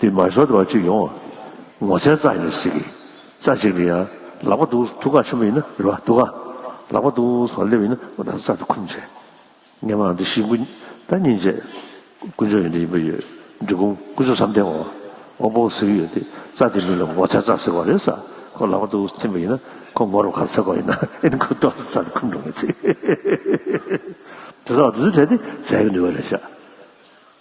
དེ་མ་ཤོར་བར་ཅིག་ཡོང། ངོ་ཚའི་རྩ་ཡིན་ཟེར་གི། རྩ་གཅིག་ནི་ཡང་ལག་པ་འདུག་ཐུགས་ཀ་ཆེན་པོ་ཡིན་ན་རེ་བ་འདུག་ག་ལག་པ་འདུག་སོགས་སླེབས་ཡིན་ན་ད་རྩ་དེ་ཁུམ་བྱས། ངས་མ་འདི་ཤི་འགུ་ད་སྙིང་རྗེ། ཀུན་སྦྱོར་ཡོན་ཏན་ཡིན་པ་ཡོད་འབྲི་གུང་ཀུན་སྦྱོར་བསམ་གཏན་འོག་པོ་ཟེར་གི་ཡོད་དེ་རྩ་དེ་མིན་ལ་ངོ་ཚའི་རྩ་ཟེར་བ་རེད་ས་ཁོ་ལག་པ་འདུག་ཐིམ་པ་ཡིན་ན་ཁོ་ངོ་རུ་ག་ཚད་དགོས་ཡིན་ན་ཨེ་ནི་ཁོ་ལྟོགས་ས་རྩ་དེ་ཁུམ་འགྲོ་ངེས་ཚིག། དེ་ཚོ་དེ་ཚོ་བྲལ་ཏེ་རྩའི་ནུས་པ་ལས་བཞག།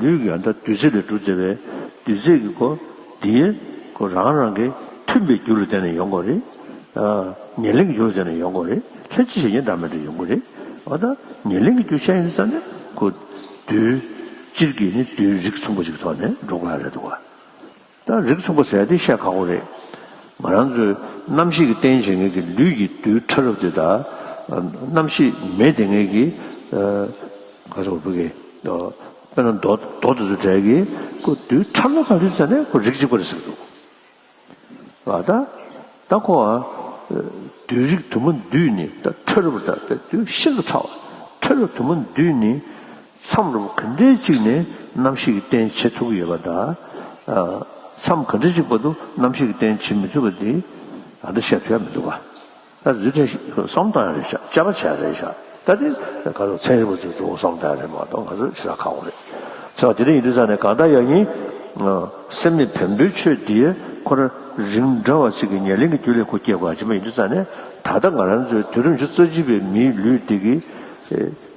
ལུས་ཀྱི་ཡང་དག་འདུས་ཚད་ལས་སྒྲུབ་མཛད་པའི་འདུས་ཚད་ཀྱི་སྒོ་འདིའི་སྒོ་རང་རང་གི་མཐུན་པའི་རྒྱུ་ལ་བརྟེན་ནས་ཡོངས་གོ་རེ། ཉེར་ལེན་གྱི་རྒྱུ་ལ་བརྟེན་ནས་ཡོངས་གོ་རེ། ལྷན་ཅིག་བྱེད་ཉེར་བསྒྲགས་མེད་དུ་ཡོངས་གོ་རེ། འོ་ན་ཉེར་ལེན་གྱི་རྒྱུ་ཤ་ཡིན་ས་ནི་གོ། འདུས། སྤྱིར་གྱིས་ནི་འདུས་རིགས་ཚུན་པོ་གཅིག་གི་ཐོག་ནས་འགྲོ་དགོས་ཨ་རེ་ད་གོ། ད་རིགས་མཚུངས་པ་ཟེར་དེ་བཤད་ཁག་པོ་རེད། ང་རང་ཚོའི་རྣམ་ཤེས་ཀྱི་རྟེན་བྱེད་ངེས་ཀྱི་ལུས་ཀྱི་རྡུལ་ཕྲ་རབ་དེ་དག་རྣམ་ཤེས་མེད་དེ་ངེས་ཀྱི། ག་ཚོད་བུ་གི། དཔེར་ན་རྡོ་རྡོ་དེ་ཚོ་དྲེག་གི་ཁོ་རྡུལ་ཕྲ་མོ་ག་རེ་ཟེར་ནས་ཁོ་རིགས་གཅིག་པ་རེད་ཟེར་གི་འདུག་ག། ད་ཁོ་ཨ། རྡུལ་རིགས་དུ་མ་འདུས་ནི་ད་ཕྲ་རབ་རེད་ད་ལྟ་རྡུལ་ཤིན་ཏུ་ཕྲ་བ། ཕྲ་རབ་དུ་མ་འདུས་ནི། མཚམས་རུང་གི་འདྲེ་གཅིག་ནི་རྣམ་ཤེས་ཀྱི་རྟེན་བྱེད་དྲུག་ཡོད་པ་དང། མཚམས་གི་འདྲེ་གཅིག་པ་དུ་རྣམ་ཤེས་ཀྱི་རྟེན་བྱེད་མི་ཚུགས་པ་འདི། ད་ལྟ་ཞབས་བཤད་མི་འདུག་ག། ད་རྫུས་ཕྲན་ཞིག་བསམ་བཏང་ཡང་རེད་བྱ་བྱ་བ་བྱས་རེད་བྱ། ད་དེ་ག་ཚོགས་ཚན་རིག་པ་ཚོས་གཙོ་བོ་བསམ་བཏང་ཡང་རེད་མ་གཏོགས་ང་ཚོས་ཆོལ་ཁ་ཁག་པོ་རེད། ཚེ་བ་དེ་རིང་ཡིན་དུས་ས་ནས་གང་ལྟར་ཡག་ཡིན། སེམས་ནི་བེམ་པོའི་ཆོས་འདིའི་ཁོ་ར་རིང་འདྲ་བ་ཅིག་གི་ཉེར་ལེན་གྱི་རྒྱུ་ལས་ཁོ་སྐྱེས་དགོས་ཀྱི་མ་ཡིན་དུས་ས་ནས་ད་ལྟ་ང་རང་ཚོའི་དུས་རིམ་བཅུ་རྩ་གཅིག་པའི་མིའི་ལུས་འདི་གི།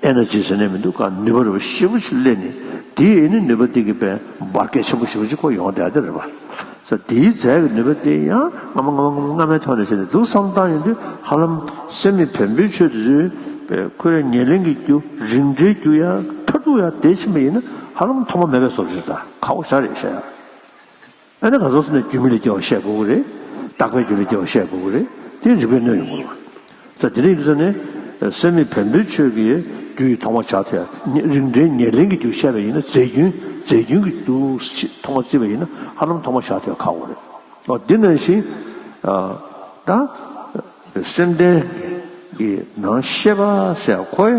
ཨེ་ན་ཅིའི་ཟེར་ནས་མི་འདུག་ག་ནུས་པ་རེ་བ་ཞེ་བོ་ཞིག་གླས་ནས་དེའི་ཨེ་ནི་ནུས་པ་དེ་གི་པའི་འབར་གས་ཆེན་པོ་ཞེ་བོ་ཅིག་ཁོ་ཡོང་སྡད་རེ་བ། ས་དེའི་རྫས་ཀྱི་ནུས་པ་དེ་ཡང་སྔ་མ་སྔ་མ་སྔ་མ་སྔ་མའི་ཐོག་ནས་བྱས་ནས་འདུག་བསམ་བཏང་ཡོང་དུས་ཧ་ལམ་སེམས་མི་བེམ་པོའི་ཆོས་དེ་ཚོའི་པའི་ཁོ་ཡ་ཉེར་ལེན་གྱི་རྒྱུ་རིང་འདྲའི་རྒྱུ་ཡ་མཐར་ཐུག་ཡ་དེ་ཕྱིན་པ་ཡིན་ན་ཧ་ལམ་ཐོག་མ་མེད་པའི་སོབ་ཆོས་དང་ཁ་བོ་ཞག་རེ་བཞག་ཡ། ཨ་ནི་ག་ཚོགས་སུ་ནི་རྒྱུ་མི་ལས་སྐྱེ་བ་བཤད་དགོས་གི་རེད། རྟག་པའི་རྒྱུ་ལས་སྐྱེ་བ་བཤད་དགོས་གི་རེད་དེ་རིག་པས་གནོད་ཡོང་གི་རེད། ས་དེ་རིག་ས་ནི། སེམས་མེད་བེམ་པོའི་ཆོས་ཀྱི་རྒྱུ་ཡིས་མཐོང་བ་བྱ་ཐལ། རིགས་འདྲའི་ཉེར་ལེན་གྱི་རྒྱུ་བཤད་པ་ཡིན་ན་རྫས་རྒྱུན་རྫས་རྒྱུན་གྱི་རྒྱུ་མཐོང་བ་བརྩི་བ་ཡིན་ན་ཧ་ལམ་མཐོང་བ་བྱ་ཐལ་ཁག་པོ་རེད། ཨོ་དེ་ན་བཞིན། ད། སེམས་ལྡན། གྱི་ནང་ཤེས་པ་སེ་ཨ་ཁོའི།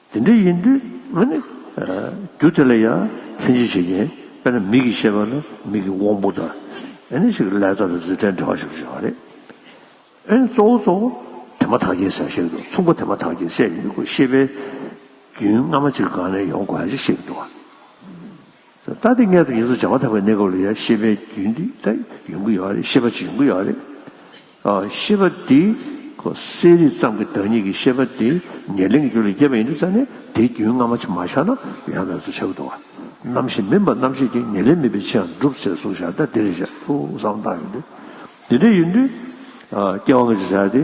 དེ་འདྲ་ཡིན་དུས་ང་ནི་རྒྱུ་དེ་ལ་ཡང་ལྷན་སྐྱེས་བྱེད་ཀྱིན་པས་ན་མིག་གི་ཤེས་པ་ནི་མིག་གི་དབང་པོ་དང་ནི་ཞིག་ལས་རྩ་དང་རྫུས་ཕྲད་འབྲེལ་བ་ཞིག་ཏུ་བྱུང་བ་རེད། ཨེ་གཙོ་བོ་གཙོ་བོ་དེ་མ་ཐག་གི་ཟེར་ཞིག་ཏུ་མཚུངས་པ་དེ་མ་ཐག་གི་ཟེར་ཡིན་ཤེས་པའི་རྒྱུན་སྔ་མ་ཅིག་གང་ནས་ཡོང་དགོས་ཧ་ཅིག་ཤེས་ཀྱི་འདུག་ད་ལྟའི་སྔས་དུ་ཡིན་ཚུལ་བྱ་མ་ཐག་པའི་གནས་སྐབས་ལ་ཡང་ཤེས་པའི་རྒྱུན་དེ་ཡོང་གི་ཡོད་རེད་ཤེས་པ་ཅིག་ཡོང་གི་ཡོད་རེད། ཤེས་པ་འདི་གསལ་རིག་ཙམ་གྱི་བདག་ཉིད་ཀྱི་ཤེས་པ་འདི་ཉེར་ལེན་གྱི་རྒྱུ་ལས་སྐྱེས་པ་ཡིན་དུ་བྱ་ནས་དེའི་རྒྱུན་སྔ་མ་ཕྱི་མ་བཞག་ན་ཡང་མེད་དུ་བྱེད་པ་འདུག་གོ། རྣམ་ཤེས་མིན་པ་རྣམ་ཤེས་ཀྱི་ཉེར་ལེན་མིན་པའི་ཕྱིར་སྒྲུབ་བྱེད་གཟུང་བྱ་སྟེ་དེ་རེ་ཞིག་ཐུགས་གསང་བཏགས་ཡིན་ཏེ། དེ་འདྲ་ཡིན་དུས། སྐྱེ་བ་མེད་དུ་བྱ་སྟེ།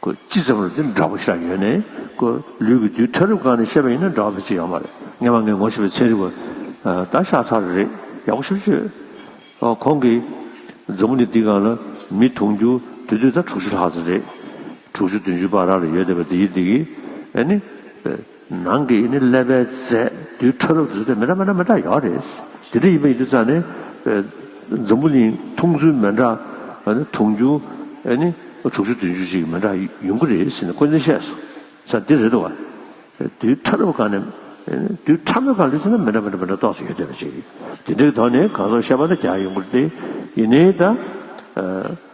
ཀུ། ཅི་ཙམ་རུ་འདི་འདྲ་པོ་ཤ་ཡོད་ནས་ཀུ། ལུས་ཀྱི་རྡུལ་ཕྲ་རུབ་གང་ནས་བཤད་པ་ཡིན་ན་འདྲ་བ་དེ་ཅི་ཡང་མ་རེད་ངས་མ་ངས་ངོ་ཞེས་པའི་ཚིག་རིག་པ་ད་ཤ་ཚ་རེ་རེད་ཡག་པོ་ཞིག་བཅོས་ཨ་ཁོང་གིས། མཛུབ་མོ་ནི་འདི་གང་ལ་མི་ཐུང་རྒྱུ་དུས་དུས་ད་དྲུག་ཅུ་ལྷག་ཙམ་རེད། དྲུག་ཅུ་བདུན་ཅུ་བར་ར་ལ་ཡོད་བསྡད་པ་འདི་ཡིན་འདི་གིས་ཨ་ནི། ནང་གི་ཡིན་ནི་ཀླད་པའི་རྫས་རྡུལ་ཕྲ་རབ་རྫུས་ཏེ་མེ་དྲག་མེ་དྲག་མེ་དྲག་ཡོད་རེད། དེ་འདྲ་ཡིན་པ་ཡིན་དུས་ཙང་ནི་འཛམ་བུ་གླིང་འཐུང་ཚུལ་མེ་དྲག་འཐུང་རྒྱུ་ནི་དྲུག་ཅུ་བདུན་ཅུ་ཅིག་གི་མེ་དྲག་ཡོང་གི་རེད་ཟེར་ནས་ཀུན་གླེང་བཤད་སོང་ཙང་འདི་རེད་དོ། རྡུལ་ཕྲ་རབ་གང་ནས་རྡུལ་ཕྲ་མོ་གང་ལུས་ཚིག་ན་མེ་དྲག་མེ་དྲག་མེ་དྲག་གཏོགས་སུ་ཡོད་བསྡད་པ་ཅིག་རེད། དེ་འདྲའི་དོགས་ནི་གང་ཟག་ཤ་པ་ན་རྒྱག་ཡོང་གི་རེད་དེ་ཡིན་ནི་ད།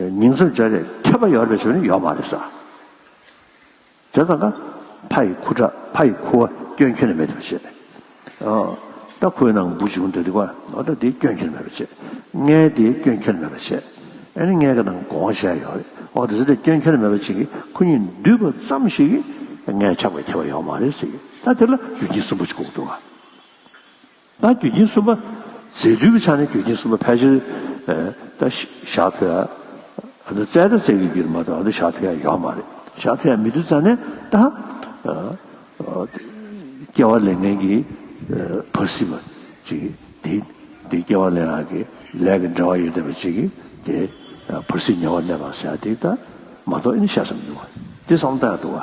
ཉིང་བསྲུབ་བྱ་རེས་ཁྱབ་པ་ཡོད་རེ་ཞུ་ནི་ཡོད་མ་རེད་ཟེར། དེ་ཙམ་ན་ཕ་ཡི་ཁུ་ཁྲག་ཕ་ཡི་ཁུ་བ་སྐྱོན་ཁྱོད་ནས་མེད་ཐུབ་བྱེད། ད་ཁོའི་ནང་འབུ་བྱུང་འདུག་དེ་ཁོ་ད་དེའི་སྐྱོན་ཁྱོད་ནས་མེད་པ་བྱེད། ངའི་དེའི་སྐྱོན་ཁྱོད་ནས་མེད་པ་བྱེད། ཨེ་ནི་ངའི་གི་ནང་གོང་བཤད་ཡོད་རེད་ཨོ་དེ་ཚོ་དེའི་སྐྱོན་ཁྱོད་ནས་མེད་པ་བྱེད་ཀི་ཁོ་གཉིས་འདུས་པ་ཙམ་ཞིག་གིས་ངའི་ཆགས་པའི་ཁྱད་པར་ཡོད་མ་རེད་ཟེར། ད་དེ་ལ་ཡུལ་ཉིང་བསྲུབ་འབུ་ཅིག་ལྐོག་འདུག་ཨ། ད་རྒྱུ་རྐྱེན་གསུམ་པ། རྫས་འདུས་པའི་ཆ་ནས་རྒྱུ་རྐྱེན་གསུམ་པ་ཕལ་ཆེར། ད་ཞག་ཐོ་ཡ། ད་རྩལ་ད་རྩལ་གྱི་རྒྱུ་ལས་མ་གཏོགས་ད་ཞག་ཐོ་ཡ་ཡོད་མ་རེད། ཞག་ཐོ་ཡ་མི་འདུག་རྩ་ནས་ད། སྐྱེ་བ་ལས་ངན་གྱི། བར་སྲིད་པ། ཅིག་དེ། དེ་སྐྱེ་བ་ལས་ངང་གི། ལས་ཀྱི་འབྲེལ་བ་ཡོད་བསྡད་པ་ཅིག་གིས་དེ། བར་སྲིད་ཉེ་བར་གནས་པར་ཟེར་ཡ་དེ་ད། མ་གཏོགས་ཨེ་ནི་ཞག་བསམ་མི་འདུག་བ། དེ་བསམ་ད་ཡ་འདུག་བ།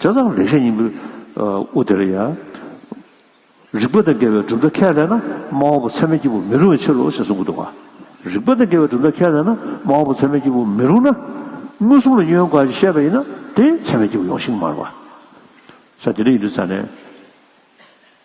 བྱ་བ་རེ་ཤས་ཡིན་པས་དབུ་དེར་ཡང། རིག་པ་དང་འགལ་བའི་གྲུབ་མཐའ་ཁས་ལེན་ན་སྨྲ་བ་པོ་ཚད་མའི་སྐྱེས་བུ་མི་རུང་བའི་ཕྱིར་རོ་ཞེས་གསུངས་ཀྱི་འདུག་ག་རིག་པ་དང་འགལ་བའི་གྲུབ་མཐའ་ཁས་ལེན་ན་སྨྲ་བ་པོ་ཚད་མའི་སྐྱེས་བུ་མི་རུང་ན། མངོན་སུམ་ལ་གཡོན་གང་ཞིག་བཤད་པ་ཡིན་ན་དེས་ཚད་མའི་སྐྱེས་བུ་ཡོངས་ཤིང་མར་བ། ས་དེ་འདྲ་ཡིན་དུས་ས་ནས།